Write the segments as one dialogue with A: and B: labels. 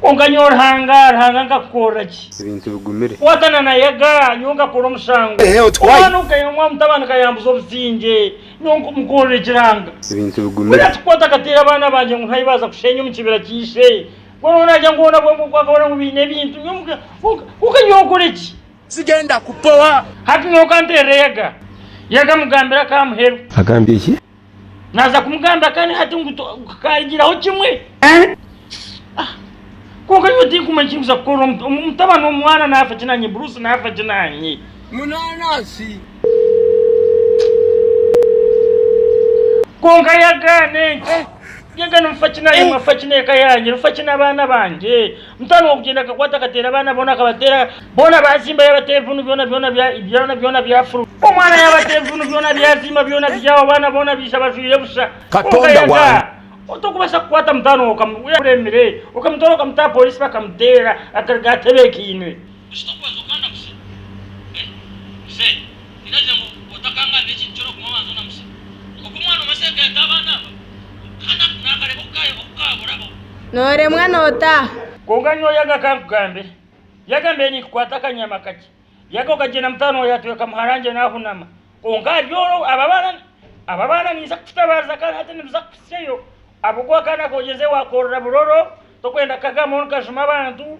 A: Kwonka nyowe Ruhanga, Ruhanga nkakukorera ki? Ebintu bigumire.
B: Watana na Yaga,
A: nyowe nkakora omusango. Omwana ou kayomwa aha mutabani kayambuza obusingye, nyowe nkumukorera ekiranga. Ebintu bigumire. Kwonka
B: tikwata akateera abaana
A: bangye ngu nkahi baaza kusheenya omu kibira kya ishe. Kwonka naagira ngu hoona bwongo oku akabona ngu baine ebintu, nyowe kwonka nyowe nkore ki? Sigenda kupowa.
C: Hati nyowe kanteerere
A: Yaga. Yaga amugambira akaamuheru. Agambye ki?
B: Naaza kumugambira
A: kandi hati ngu tukaarigiraho kimwe. Ah, kwonka nyowe tinkumanya eki nkuza kukora, omu- omu- mutabani omwana naafa ki naanye, Bruce naafa ki naanye. Munaanansi. Kwonka yagaana enki? Yagaana nfa ki naanye, mwe afa ki n'eka yangye, nfa ki n'abaana bangye? Mutano w'okugyenda akakwata akateera abaana boona akabateera boona baazimba yaaba teevunu byona byona byona byona byafuruma. Omwana yaaba teevunu byona byazimba byona byawa abaana boona baija bajwire busha. Kwonka yaza
C: otokubaasa kukwata
A: mutano we okamuremire okamutoora okamuta aha poriisi bakamuteera akaruga atebeekainwe. Bushita okubanza okanda kusiba. Eh? Mzee, niragira ngu otakangaanira ekintu kyona ogume obanze onamusibe. Oku omwana omwe asereka yata abaana aba, kandi aku nakareba oku ka oku kaaburaho. Nooremwa
D: nootaaha. Kwonka nyowe yaga
A: akankugambira. Yagambire ninkukwata akanyama kakye. Yaga okagyenda mutaano wa yatweka muharangye naahunama. Kwonka ahari orwo aba abaana aba abaana niinza kukutabariza kandi hati nibuza kuhitsyayo ahabw'okuba akaana kogyenze waakorora buroro, tokwenda kukagaamaho nikajuma abantu,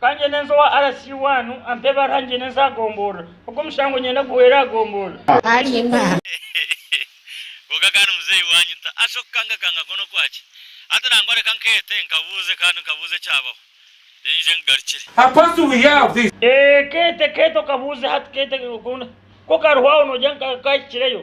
A: Ka ngyende nze owa RC waanu ampe ebaruha ngyende nze aha gomborora. Ogu omushango nyenda guhweere aha gomborora. Alimba. Kwonka kandi muzeeyi waanyu ta asi okukangakanga kwo n'okwaki? Hati nangwa reka nkeete nkabuuze kandi nkabuuze ekyabaho then nje nkugarukire. How fast do we hear of
C: this? Ee, keete, keete
A: okabuuze hati, keete, okunda. Ku kariho aho noojya nka ka ahikireyo.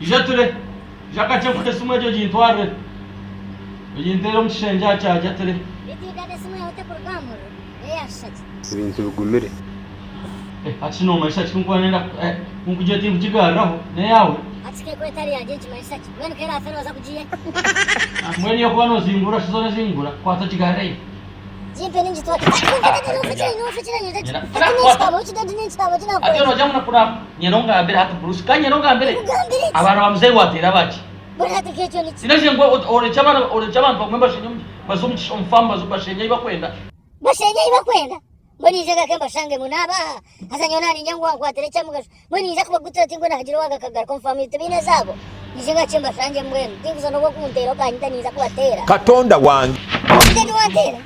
E: Ija ture.
A: Ija kakye nfute esimu egyo ogintwarire. Oginteere omu kishengye aha kyaajo ature.
E: Ebintu bigumire.
A: Hati shi noomanyisa ki ku nkuba ndenda ku nkugire tinkugigaariraho? N'eyaawe?
E: Mbwenu
A: y'okuba noozingurura shi zoona zingura. Kwata ogigaarireyo. Gimpe ningitwara. nyero ngambire hati bruce ka nyero ngambire abaana ba muzeyi wateera baki
E: sinaje ngu orekye
A: abantu bamwe bashenye omu farm bashenye eyi bakwenda bashenye eyi
E: bakwenda Mbwenu ija gake mbashangemu. Naabaha, haza nyowe naaniinya ngu wankwatira eky'omugasho. Mbwenu niija kubagutira oti mbwenu haagira owagakagaruka. Omu faamu tibaine ezaabo? Ija gake mbashangemu. Mbwenu tinkuza n'obu okunteera okaanyita niinza kubateera. Katonda wange!
C: Ija gye
E: wanteera.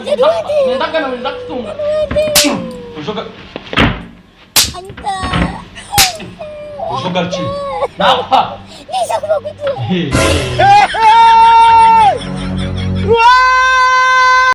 A: Ija gye
E: wanteera.
A: Niija kubagutura.